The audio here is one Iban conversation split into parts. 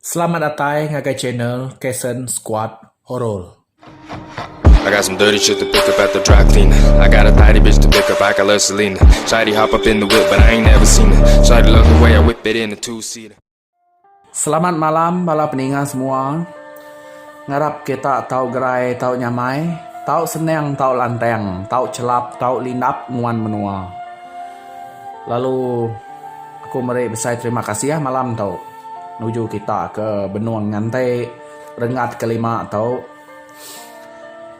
Selamat datai ngagai channel Kason Squad Horror. I got some dirty shit to pick up at the dry clean I got a tidy bitch to pick up, I got love Selena Shawty hop up in the whip but I ain't never seen her Shawty love the way I whip it in a two seater Selamat malam bala peninga semua. Ngarap kita tau gerai tau nyamai, tau senang tau lantang, tau chelap tau lindap nguan menua. Lalu. Aku meri besai terima kasih malam tu nuju kita ke benung nganti rengat ke lima tu.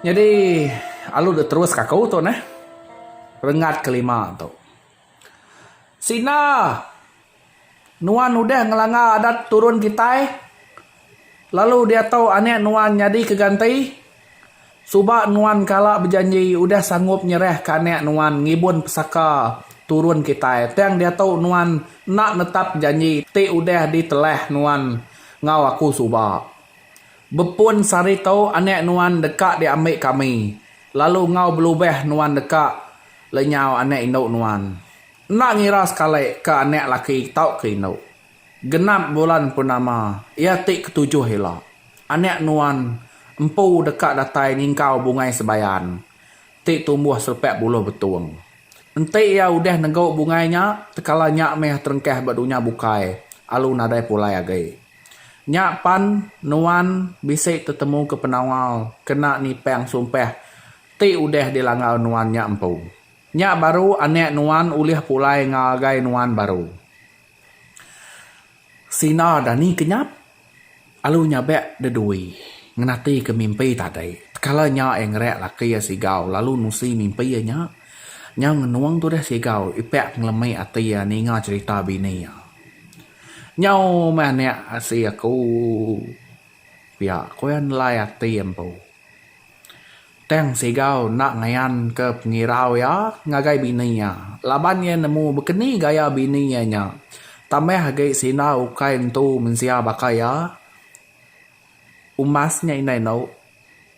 Nyadi alu deh terus ka aku tu neh rengat ke lima tu. Sina nuan udah ngelanga adat turun kitai. Lalu diatu anak nuan nyadi ke ganti? Suba nuan kala bejanji udah sanggup nyerah ke anak nuan ngibun pesaka turun kitai tang diatu nuan enda netap janji ti udah di telah nuan ngau aku suba. Bepun sari tu anak nuan deka di ambi kami lalu ngau belubah nuan deka lenyau anak indu nuan. Enda ngira sekali ke anak laki tau ke indu. Genap bulan purnama iya ti ketujuh ila, anak nuan empu deka datai nyingkau bungai sebayan ti tumbuh selepak buluh betung. Enti iya udah negu bungai nya, tekala nya meh terengkah ba dunya bukai alu nadai pulai agi. Nya pan nuan bisi tetemuka penawal kena nipang sumpah ti udah dilanggar nuan nya empu. Nya baru anak nuan ulih pulai ngagai nuan baru. Sina dani ke nyap alu nyabek de dui ngenati ke mimpi tadi kala nya ia ngerek laki ia sigau lalu nusi mimpi ia nya nya ngenung tudah sigau ipek ngelemi ati ia ninga cerita bini ia nyau meh anek asi aku pia ku ia nelai ati empu. Tang Segau enda ngayanka pengirau iya ngagai bini iya laban iya nemu bekeni gaya bini iya nya. Tambah agi sindar ukai entu mensia baka iya, Umas nya indai endo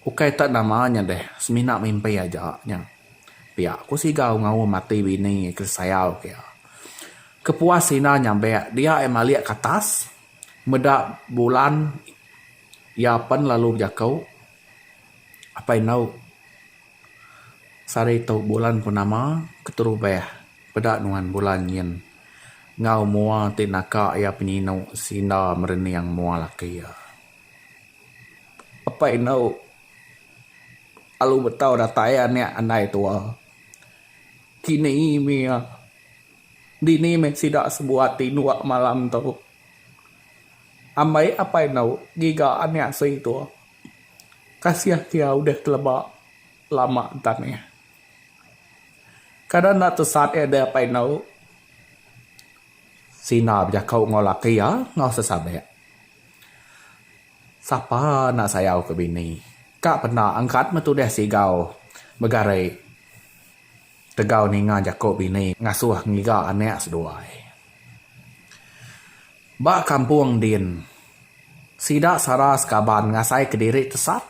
ukai tak nama nya deh semina mimpi aja nya. Pia ku Segau ngaum ati bini iya ke sayau ke iya. Kepuas sindar nyabek dia iya malik ke atas meda bulan iya pen lalu bejaku. Apai endauk sari tau bulan purnama keterubah peda nuan bulan nyin enggau mua ti naka iya penyinu sinda merening mua laki iya. Apai endauk lalu betau datai anak andai tua kini mih iya dini mih sida sebuat tinuk malam tu. Ambei apai endauk ngiga anak sui tu. Kasih ti iya udah teleba lama ntang iya. Kada enda tesat iya deh apai endu. Sina bejako enggau laki iya enggau sesabek. Sapa enda sayau ke bini. Ka penda angkat meh tudah sigau begari tegau ninga jako bini ngasuh ngiga anak seduai. Ba kampung din, sida sara sekaban ngasai kediri tesat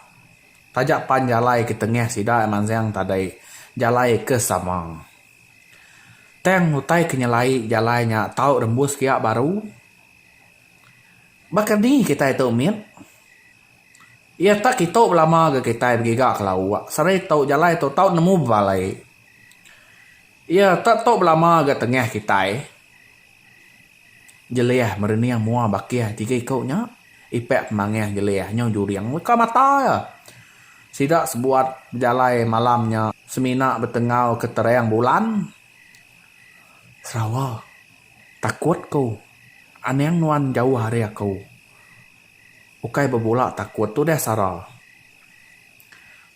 taja pan jalai ke tengah sida mansang tadai jalai ke sama. Tang utai ke nyelai jalai nya tau rembus pia baru. Baka ni kitai tu mit? Iya tak kitu belama ga kitai begiga ke lauk seri tu jalai tu tau nemu bebalai. Iya tak tu belama ga tengah kitai. Jelih merening mua bakih tiga iku nya. Ipak pemangih Jelih nyau juring leka mata iya. Sida sebuat bejalai malam nya semina betengau ke terang bulan. Serawa, takut ku. Anang nuan jauh ari aku. Ukai bebula takut tudah sara.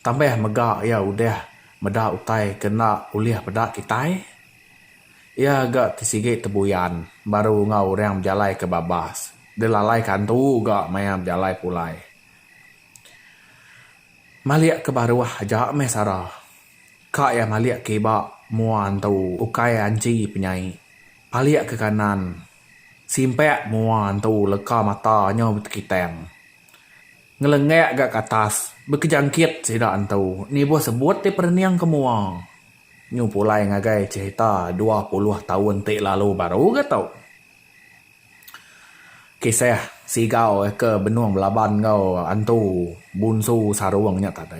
Tambah mega iya udah meda utai ke enda ulih peda kitai. Iya ga ti sigi tebuyan baru enggau orang bejalai ke babas. Delalai kantu ga maya bejalai pulai. Malik ke baruh aja meh sara. Ka iya malik ke iba mua antu ukai anchi penyai. Palik ke kanan simpak mua antu leka mata nyau betekitang. Ngelengak ga ke atas bekejangkit sida antu nibuh sebut ti perening ke mua. Nyu pulai ngagai cerita dua puluh taun ti lalu baru ga tu. Kisah Sigau ke benung belaban enggau antu bunsu sarung nya tadi.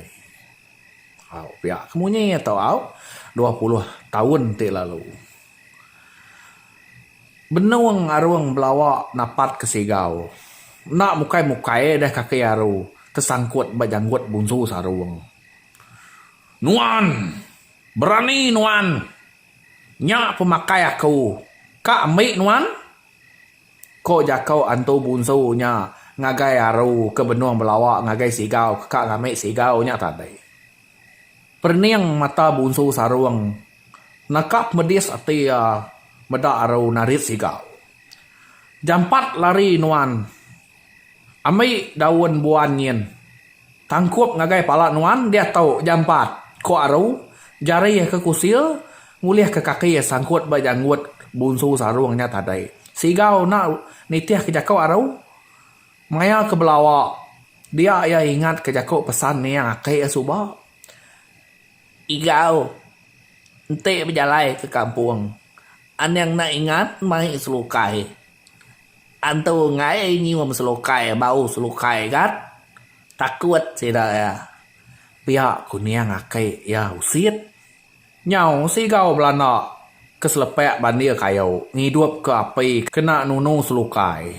Au pia ke munyi iya tu au dua puluh taun ti lalu. Benung arung belawa napat ke Sigau. Enda mukai-mukai deh kaki aru tesangkut ba janggut bunsu sarung. Nuan! Berani nuan! Nya pemakai aku ka ambi nuan? ko jako antu bunsu nya ngagai aru ke benung belawa ngagai sigau ke ka ngambi sigau nya tadi. Perening mata bunsu sarung naka pemedis ati iya meda aru narit sigau. Jampat lari nuan! Ambi daun buan nyin tangkup ngagai pala nuan diatu jampat, ku Aru, jari iya ke kusil ngulihka kaki iya sangkut ba janggut Bunsu Sarung nya tadai. Sigau enda nitihka jaku Aru, maya ke belawa dia iya ingatka jaku pesan nia aki iya suba, Igau enti bejalai ke kampung, anang enda ingat mai selukai. Antu enggai nyium selukai bau selukai gat takut sida iya pia kuning aki iya usit nyau sigau belanda ke selepak bandir kayu ngidup ke api kena nunu selukai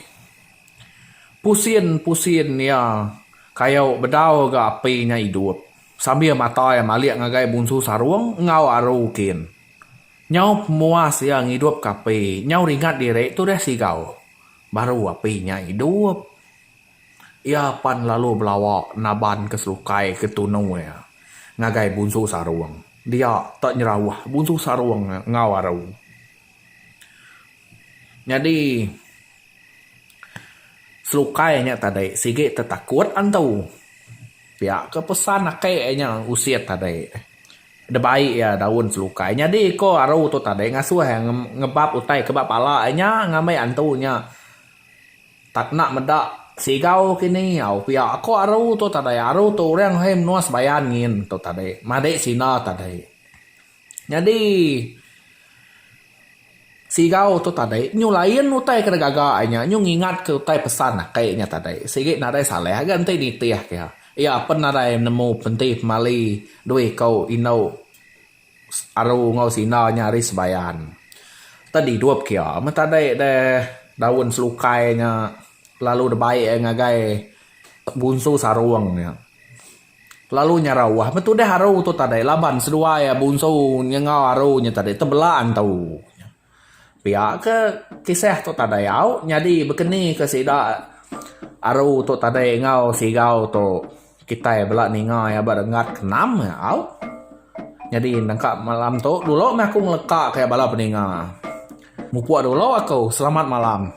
pusin pusin iya kayu bedau ga api nya idup sambil mata iya malik ngagai bunsu sarung enggau aru kin. Nyau pemuas iya ngidupka api, nyau ringat diri tudah sigau, baru api nya idup. Iya pan lalu belawa naban ke selukai ke tunu iya ngagai Bunsu Sarung. Dia tak nyerauh Bunsu Sarung enggau aru. Nyadi. Selukai nya tadi sigi tetakut antu. Pia ke pesan ake nya usit tadi. Debai iya daun selukai. Nyadi ko aru tu tadi ngasuh iya ngebap utai ke ba pala iya nya ngambi antu nya tak enda meda sigau kini au. Pia ko aru tu tadi. Aru tu orang he menua Sebayan nyin tu tadi. Madi sina tadi. Nyadi Sigau tu tadi nyu lain utai ke digaga inya nyu ngingat ke utai pesan ake nya tadi sigi nadai salah ga enti nitih ke iya apen nadai nemu penti pemali dua iko inu aru enggau sina nya ari sebayan tadi idup ke iya men tadi deh daun selukai nya lalu dibai iya ngagai bunsu sarong nya. Kelalu nyarau wah meh tudah aru tu tadai laban seduai iya bunsu nyengau aru nya tadi tebela entu nya. Pia ke kisah tu tadai au nyadi bekeni ke sida aru tu tadai enggau sigau tu kitai bela ninga iya ba renggat ke enam nya au. Nyadi nengka malam tu dulu meh aku ngeleka ka iya bala peninga. Mupuk dulu aku selamat malam.